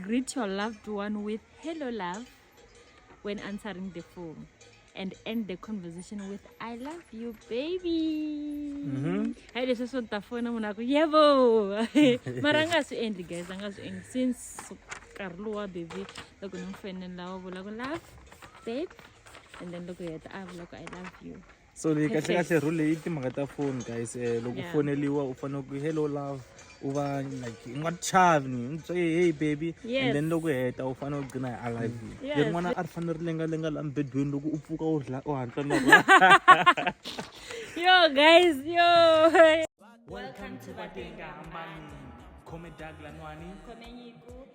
Greet your loved one with hello love when answering the phone and end the conversation with I love you baby. Mm-hmm. Hayi leswi swo ta fona munhu aku yebo mara a nga swi endli guys a nga swi endli since nkarhi lowu wa baby loko ni n'wi fenela wa vula ku love babe and then loko heta a vula ku I love you. so leyi kahle kahle Purpose. rule leyi i timhaka ta foni guys eh, loko u Yeah. foneliwa u fanele ku hello love u va like i nga chavi ni ni twe, hey baby Yes. and then loko u heta u fanele u gcina hi i love you Yes. leri n'wana a ri fanele ri lengalenga la mbedweni loko u pfuka u ri la u hatla na rona yo guys yo welcome to vatenga hambani khome dag lanwani khomenyiku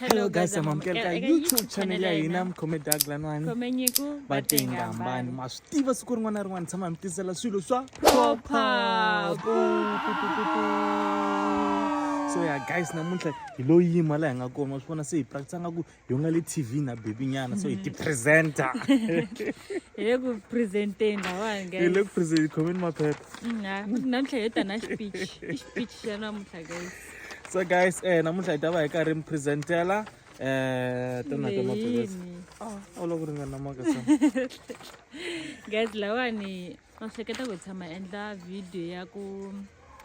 hello guys amamukela ka youtube channel ya hina mkhome daglanwani vatengambani ma swi tiva siku rin'wana na rin'wana tshama mi tisela swilo swa proper so ya guys namuntlha hi lo yima laha hi nga kona wa swi vona se hi practice nga ku hi nga le tv na baby nyana so hi ti-presenter hi le ku presenteni lawani hi le ku present khomeni maphepha mm, namuntlha hi yo ta na xipich i xipich xa namuntlha guys so guys eh namuntlha hi ta va hi karhi mi presentela eh tona ka maphilisi ah ola ku ringana maka sa guys lawani va hleketa ku tshama endla video ya ku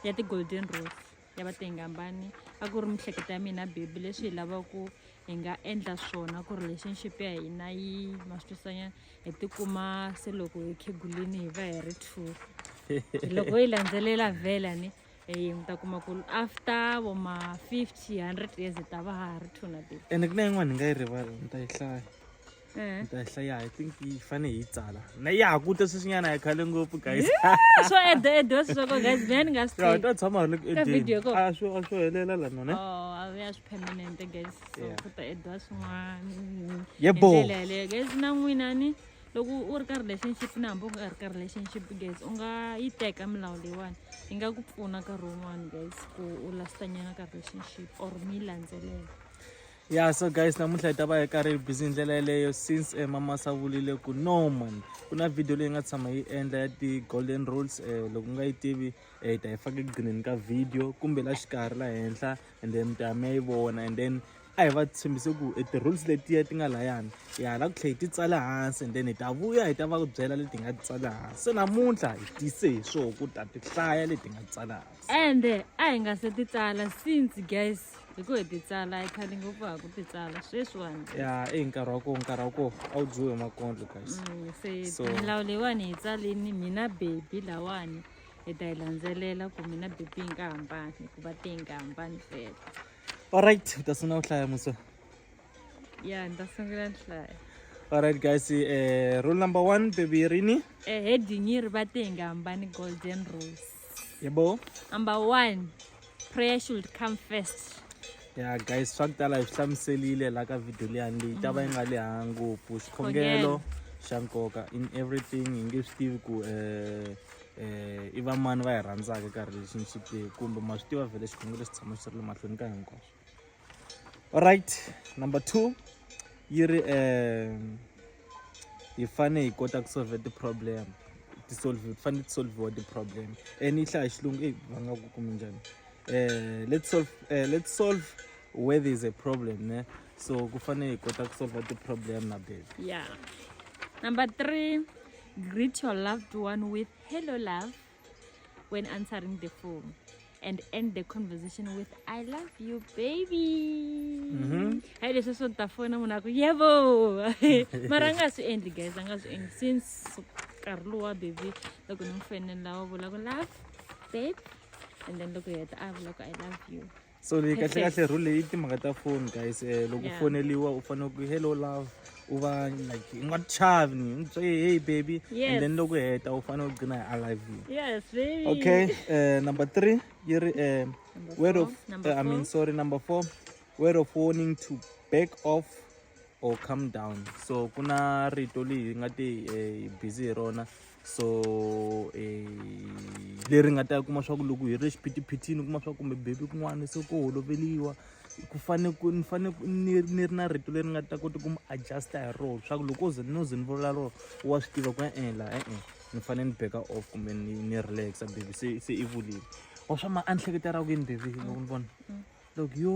ya ti golden rose ya va tengambani a ku ri mihleketa ya mina baby leswi hi lavaka ku hi nga endla swona ku relationship ya hina yi maswisanyana hi tikuma se loko hi khegulini hi va hi ri two loko yi landzelela vela ni Hey, mi ta kuma ku after vo ma 50 100 years hi ta va ha ri two na baby ene ku na yin'wana ni nga yi rivala ni ta yi hlaya Eh. ni ta yi hlaya i think yi fane hi yi tsala na ya ha kute sweswinyana hi khale ngopfu guys swo ede ede swi swa ko guys mina ni nga swi ya hi ta tshama hi ri ku Ka video ko? edeni a swo a swo helela la none Oh, a ya swi permanent guys so Yeah. ku ta ediwa swin'wana Yebo. Hi ndlela yaleyo guys na n'wina ni loko u ri ka relationship na hambi u nga ri ka relationship guys u nga yi teka milawu leyiwani yi nga ku pfuna nkarhi wun'wani guys ku u lastanyana ka relationship or mi landzelela ya so guys namuntlha hi ta va hi karhi hi busy ndlela yeleyo since um eh, mamasa vulile ku no man ku na video leyi nga tshama yi endla ya ti-golden rules um loko u nga yi tivi um hi ta yi faka ekugcineni ka video kumbe la xikarhi la henhla and then mi ta ya mi ya yi vona and then a hi va tshembise ku e ti-rules letiya ti nga layani hi hala ku tlhela hi ti tsala hansi and then hi ta vuya hi ta va ku byela leti hi nga ti tsala hansi se namuntlha hi tise hi swoho ku ta ti hlaya leti hi nga ti tsala hansi ende a hi nga se ti tsala since guys hi ku hi ti tsala hi khale ngopfu ha ku ti tsala sweswiwani ya i hi nkarhi wa koho nkarhi wa koho a wu dyiwe hi makondlo guys Mm, se So- milawu leyiwani hi tsalini mina bebi lawani hi ta yi landzelela ku mina BP yi nga hambani hikuva te yi nga hambani tsela alright u ta sungula ku hlaya musa ya ni ta sungula ni hlaya alright guys eh, rule number one baby yi rini eh, heading yi ri va te yi nga hambani golden rose yebo number one prayer should come first ya guys swa ku tala hi swi hlamuserile la ka video leyani leyi ta va yi nga leha ngopfu xikhongelo xa nkoka in everything hi nge swi tivi ku um um i vamani va hi rhandzaka nkarhi lexi ni xi tivi kumbe ma swi tiva vhele xikhongelo xi tshama xi ri le mahlweni ka hinkwaswo alright number two yi ri um hi fane hi kota ku solve ti-problem ti-solve ti fanele ti solviwa ti-problem and yi hlaya xilungu eyi va nga ku kumi njhani um let's solve uh, let's solve where there is a problem ne so ku fanele hi kota ku solve ti-problem na baby yeah number three greet your loved one with hello love when answering the phone and end the conversation with i love you baby mm-hmm. hayi leswi swo ta fona munhu aku yevo mara a nga swi endli guys a nga swi endli since nkarhi lowa baby loko ni n'wi fenela wa vula ku love babe and then loko heta a vula ku i love you so leyi kahle kahle rule leyi timhaka ta foni guys um loko u foneliwa u fanele ku hello love u va like i nga chavi ni ni twe hey baby and then loko heta u fanele u gcina hi i love you yes baby okay uh, number three yi ri um word of uh, i mean sorry number four word of warning to back off or come down so ku na rito leyi nga te eh, busy hi rona so eh, leri nga ta kuma swa ku loko hi ri xiphitiphitini u kuma swa kumbe bebi kun'wana se ko holoveliwa ku fane ku ni fane ni ni ri na rito leri nga ta kota ku mi adjusta hi rona swa ku loko o ze no ze ni vula rona wa swi tiva ku e-ela eh, e-e eh, ni fanele ni beka off kumbe ni ni relaxa bebi se se i vulile wa swa ma a ni hleketa ra ku yini bebi loko ni vona mm, mm. loko yo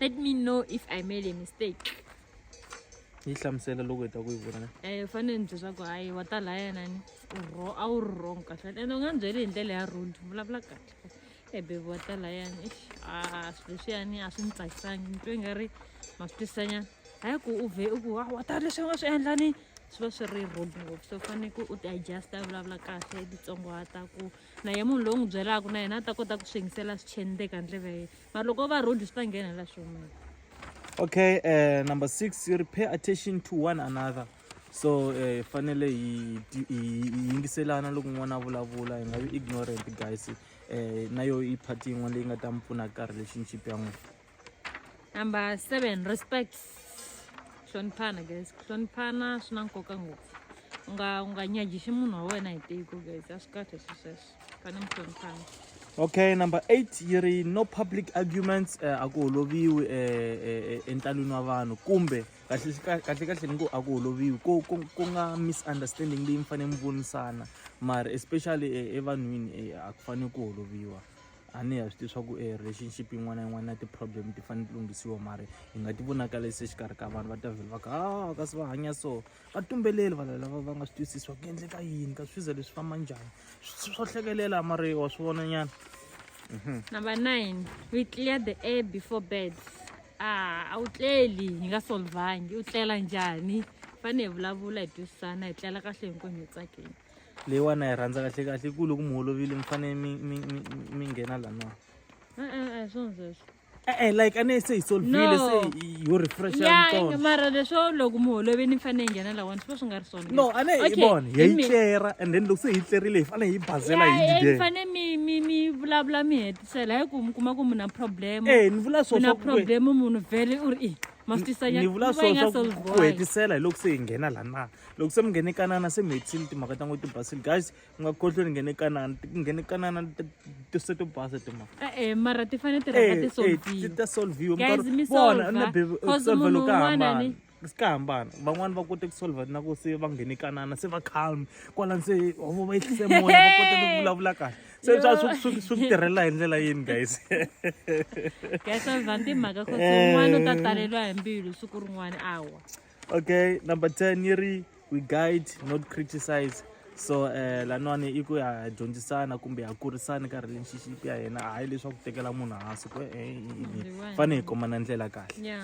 let me know if i made a mistake yi hlamusela loko hi ta ku yi vona um fanele ni byeswaku hayi wa ta laya nani ro a wu ri wrong kahle ende u nga ni byeli hi ndlela ya road vulavula kahle ebebe wa ta layani ix a swilo swiyani a swi ni tsakisangi ni twe nga ri ma swi twisanyana hayi ku u vhe u ku wa wa ta leswi u nga swi endla ni swi va swi ri road ngopfu so faneke u ti-adjusta vulavula kahle titsongohata ku na ye munhu loyi n'wi byelaka na yena a ta kota ku swi yingisela swi cheni le ka ndleve ya yena mara loko va rude swi ta nghena la swi humela okay uh, number six you repay attention to one another so hi eh, fanele hi yingiselana loko n'wana a vulavula hi nga vi ignorant guys um na yo i part yin'wana leyi nga ta mi pfuna karhi relationship ya n'wina number seven respect hloniphana guys ku hloniphana swi na nkoka ngopfu u nga u nga nyajixi munhu wa wena hi tiko guys a swi kahle swi sweswo fane mi hloniphana okay number eight yi ri no public arguments eh, a ku holoviwi eh, eh, eh, entalwini wa vanhu kumbe kahle ka- kahle kahle ni ku a ku holoviwi ku ku- ku nga misunderstanding leyi mi fanele mi vonisana mara especially eh, evanhwini eh, a ku fanele ku holoviwa a ni ya swi tiva swa ku e relationship yin'wana na yin'wana na ti-problem ti fanele ti lunghisiwa mara hi nga ti vonakarisi exikarhi ka vanhu va ta vhele va ka a kasi va hanya so va tumbeleli vanhu lava va nga swi twisisi swa ku endleka yini ka swiza leswi famba njhani swo hlekelela mara wa swi vona nyana mhm. number nine we clear the air before bed ah, a wu tleli hi nga solvangi u tlela njhani fanele hi vulavula hi twisisana hi tlela kahle hinkwenu hi tsakeni leyiwani na yi rhandza kahle kahle yi ku loko mi holovile mi fanele mi mi mi mi nghena laniwa e-e a hi swona sweswo e-e like a ne se hi solvile se yo refresha yitsona mara leswo loko mi holovile ni fanele yi nghena lawani swi va swi nga ri swona no a ne hi vona hi yi tlera and then loko se hi tlerile hi fanele hi bazela hi didele mi fanele mi mi mi vulavula mi hetisela hi ku mi kuma ku mi na problem e ni vula swona na problem munhu vele u ri i ma swi tisanya ni vula swona swa ku hetisela hi loko se hi nghena laniwa loko se mi nghene kanana se mi hetisile timhaka ta ngo ti basile guys mi nga khohlwe ni nghene kanana nghene kanana ti se to basa timhaka e-e mara ti fanele ti rhanga ti solviwa ta solviwa vona na bebe solvelo ka hambana si ka hambana van'wani va kote ku solva na ku se va nghene kanana se va calm kwalani se ovo va ehlise moya va kote ku vulavula kahle se swa swi ku tirhela hi ndlela yini guys guys solva timhaka kos un'wana u ta taleriwa hi mbilu siku rin'wana awa okay number 10 yi ri we guide not criticize so um eh, laniwani i ku ya dyondzisana kumbe ya kurisana ka relationship ya yena hayi leswaku tekela munhu hansi ku eh, fane hi komana ndlela kahle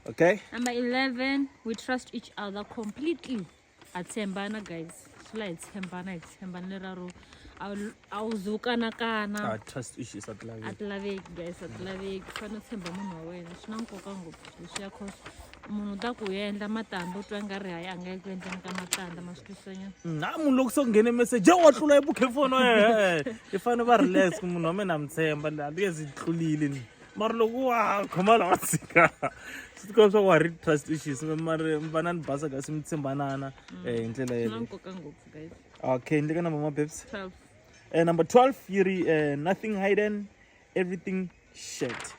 okay number 11 we trust each other completely ha tshembana guys swi la hi tshembana hi tshembana lera ro a wu ze wu kanakana a trust issues a ti laveki a ti laveki guys a ti laveki fanele u tshemba munhu wa wena swi na nkoka ngopfu leswi ya cause munhu u ta ku yendla matandza u twa nga ri hayi a nga yi ku endleni ka matandza ma swi twisanyana na munhu loko se ku nghene message wa tlula ebukhefoni i fanele va relax munhu wa mina a mi tshemba a ti nge zi tlulile ni mara loko wa khoma la wa tshika swi tikomba swa ku wa ri trust issues mari mi va na ni basa kasi mi tshembanana um hi ndlela yeleyo okay ni le ka number ma babes uh, number 12 yi ri uh, nothing hidden everything shet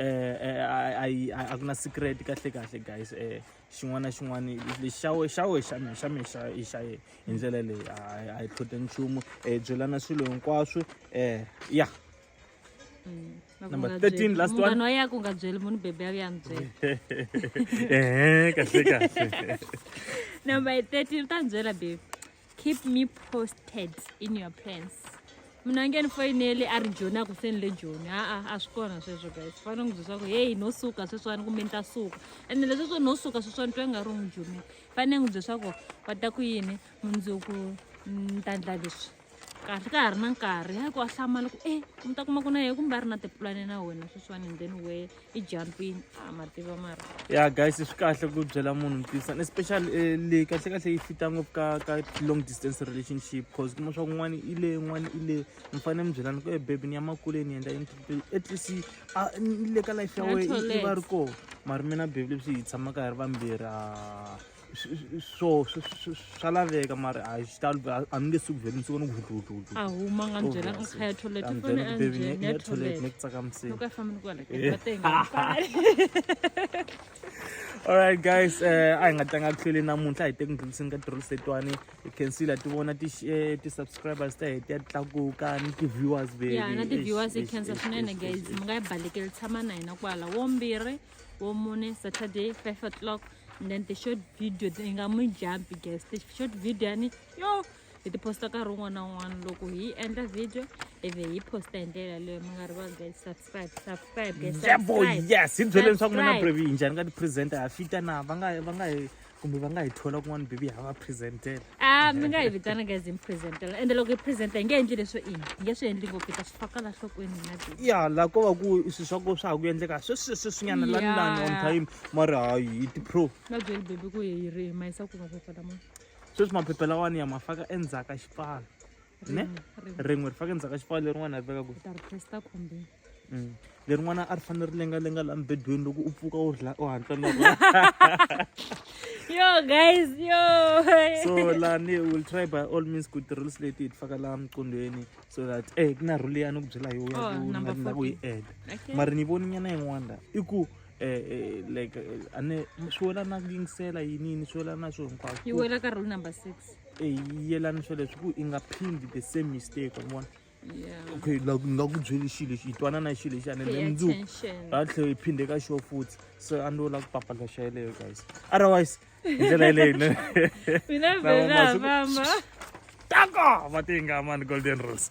a ku na secret kahle kahle guys um xin'wana na xin'wana lexi xa we xa we xa mina xa mina xa i xa yena hi ndlela leyi a hi tlhote nchumu um byelana swilo hinkwaswo um ya Mm. Number 13, last one. munghana wa yaka u nga byeli munhu bebe ya ya mi byela ehe kahle kahle number 13 u ta ni byela bebe keep me posted in your plans mina nge ni foyineli a ri joni a ku se ni le joni aa a swi kona sweswo guys u fanele n'wi byela swaku heyi no suka sweswiwani kumbe ni ta suka ene lesweswo no suka sweswiwani twa nga ri n'wi jomini fanele n'wi byela swaku va ta ku yini mundzuku ni ta ndla leswi kahle ka ha ri na nkarhi ya ku a hlama loko e mi ta kuma ku na yena kumbe a ri na tipulani na wena sweswiwani and then we i jumpini a ma tiva mara ya guys swi kahle ku byela munhu ntisan especially eh, leyi kahle kahle yi fita ngopfu ka ka long distance relationship cause kuma swa ku n'wana i le n'wana i le mi fanele mi byelana ku e bebi ni ya makuleni ni endla yini at least a ni le ka life ya wena i va ri kona mara mina bebi leswi hi tshamaka hi ri vambirhi a swo swa laveka mara a xi talo a ni nge suku vhele ni suka ni kuhluhluhlu a huma nga ni byela nkha ya toilet u fane a njheni ya toilet ni ku tsakamiseni loko a famba ni kwala eh. alright guys eh, a hi nga tlanga kuhlweli namuntlha hi te ku ndlhuliseni ka tirhelo setwani hi cancela ti vona eh, ti-subscribers ta heti ya ti tlakuka ni ti-viewers veyana ti-viewers hi cancer swinene guys mi nga yi balekeli tshama na hina kwala wombirhi wo mune saturday five o'clock and then the short video yi nga mu jumpi guys the short video yani yo hi tiposta nkarhi wun'wana na wun'wana loko hi endla video ivi hi posta hi ndlela leyo mi nga rivali guys subscribe subscribe guys yebo yes hi byele leswaku mina brevi yi njhani ka ti-presenter ha fita na va nga va nga hi kumbe va nga hi thola kun'wana bibi ha va presentela a mi nga hi vitana guys hi mi presentela ende loko hi presenta hi nge endli leswo ini hi nge swi endli ngopfu hi ta swi faka la nhlokweni hina bibi ya la ko va ku swi swa ko swa ha ku endleka sweswi sweswinyana lani lani on time mara hayi hi ti-pro va byeli bibi ku hi ri hi mayisa ku maphepha lama sweswi maphepha lawani ya ma faka endzhaku ka xipfalo ne rin'we ri faka ndzhaka xipfalo lerin'wana ri veka kwihi mm. lerin'wana a ri fanele ri lengalenga laha mibedweni loko u pfuka u rila u hatla na yo guys yo so lani will try by all means ku ti-rules leti hi ti faka laha miqondweni so that e ku na rule ya ni ku byela yo ya oh, ku nga na ku yi eda mara ni voni nyana yin'wana la i ku Eh, eh, like eh, ane swi wela na ku yingisela yinini swi wela na swo hinkwaswo yi wela ka rule number six eyi yelanisa leswi ku i nga phindi the same mistake wa vona okay like nga ku byeli xilo lexi hi twanana xilo lexi ane then mundzuku ra tlhela hi phinde ka xo futhi so a ni la ku papalesha yeleyo guys otherwise hi ndlela yeleyo ne mina vela mama taka va te nga mani golden rose